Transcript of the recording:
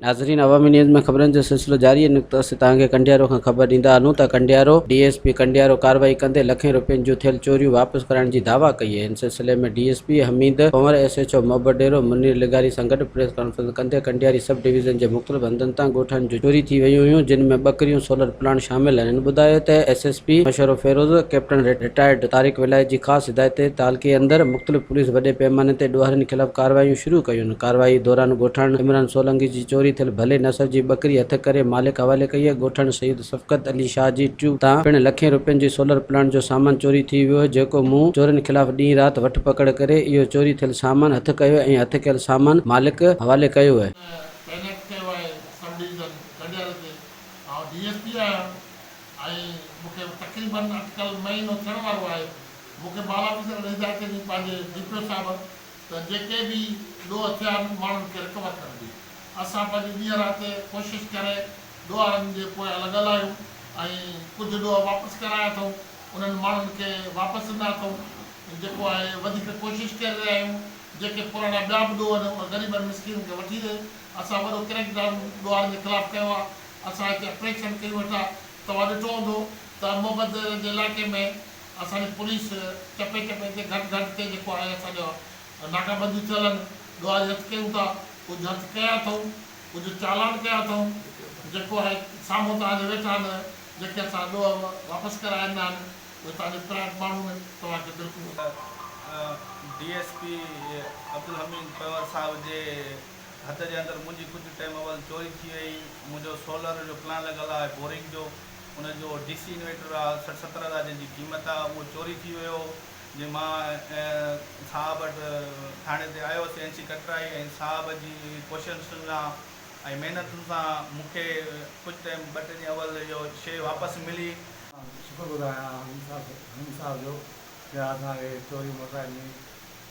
ناظرين عوامي نيوز ۾ خبرن جو سلسلو جاري آهي نقطو اسين توهان کي ڪنڊيارو کان خبر ڏيندا هلون ته Kandiaro D S P Kandiaro ڪارروائي ڪندي لکين روپين جون ٿيل چوريون واپس ڪرائڻ جي دعويٰ ڪئي آهي ان سلسلي ۾ D S P Hamid Kanwar S H O Mohabbat Dero Munir لغاري سان گڏ پريس ڪانفرنس ڪندي ڪنڊياري سب ڊويزن جي مختلف هنڌن تان ڳوٺاڻين جون چوري ٿي ويون هيون جن ۾ ٻڪريون سولر پلاڻ شامل آهن. هن ٻڌايو ته ايس ايس پي مشورو فيروز، ڪئپٽن رٽائرڊ طارق ولايت جي خاص هدايت تي تعلقي اندر مختلف پوليس وڏي پيماني تي ڏوهارين خلاف ڪارروايون شروع ڪيون، ڪارروائي دوران ڳوٺاڻن عمران سولنگي جي چوري ٿيل ڀلي نسل جي ٻڪري هٿ ڪري مالڪ حوالي ڪئي، ڳوٺاڻن سيد شفقت علي شاهه جي ٽيوب تان پڻ لکين روپين جي سولر پلانٽ جو سامان چوري ٿي ويو جيڪو مون چورين خلاف ڏينهن رات وٺ پڪڙ ڪري اهو چوري ٿيل سامان هٿ ڪيو ۽ هٿ ڪيل سامان مالڪ حوالي ڪيو. ۾ تعينات ڪيو آهي سب ڊويزن ڪنڊيال کي آئون ڊي ايس پي آهيان ۽ مون کي تقريباً اٽڪل مهينو ٿيڻ وارو آهي. مون کي بالا آفيسر اهڙي هدايت ڏني پنهنجي ڊي پي او صاحب ته جيڪي به ڏوهه ٿيا آهن ماڻهن کي رڪور ڪرڻ جي. اسان پنهنجي ڏينهن رات ڪوشش ڪري ڏوهارن جي پويان لڳل آهيون ۽ ڪجهه ڏوهه واپس ڪرايا اٿئون انهن ماڻهن کي واپس ڏنا اٿئون جيڪو آهي وڌيڪ ڪوشش ڪري رهيا آهيون جيڪي پراڻا ٻيا به ڏوهه آهن اهي غريبن مسڪينن کي وٺي ڏي اسان وڏو ڪريڪ ڊائون ڏوهارين جي خلاف ڪيو آ اسان هتي اپريشن ڪيون ويٺا توهان ڏٺو هوندو ته محمد جي علائقي ۾ اسان جي پوليس چپي چپي تي گهٽ گهٽ تي جيڪو آهي اسان جا ناڪا بنديون ٿيل ان ڏوهاري هٿ ڪيون ٿا ڪجهه هٿ ڪيا اٿئون ڪجهه چالان ڪيا اٿئون جيڪو آهي سامهون توهان جي ويٺا ان جيڪي اسان ڏوهه واپس ڪرايا ان آهن اهي توهان جي پرائٽ ماڻهو ان توهان کي بلڪل D S P Abdul Hamid Panhwar صاحب جي. هٿ جي اندر منهنجي ڪجهه ٽيم اول چوري ٿي وئي منهنجو سولر جو پلان لڳل آهي بورنگ جو ان جو ڊي سي انويٽر آهي سٺ ستر هزار جنهن جي قيمت آهي اهو چوري ٿي ويو جي مان صاحب وٽ ٿاڻي تي آيو سي اين سي ڪٽرائي ۽ صاحب جي ڪوششن سان ۽ محنتن سان مون کي ڪجهه ٽيم ٻه ٽي ڏينهن اول اهو شيء واپس ملي. شڪر گذار آهيان حميد صاحب جو جنهن اسان کي چوري موٽرائي ڏني.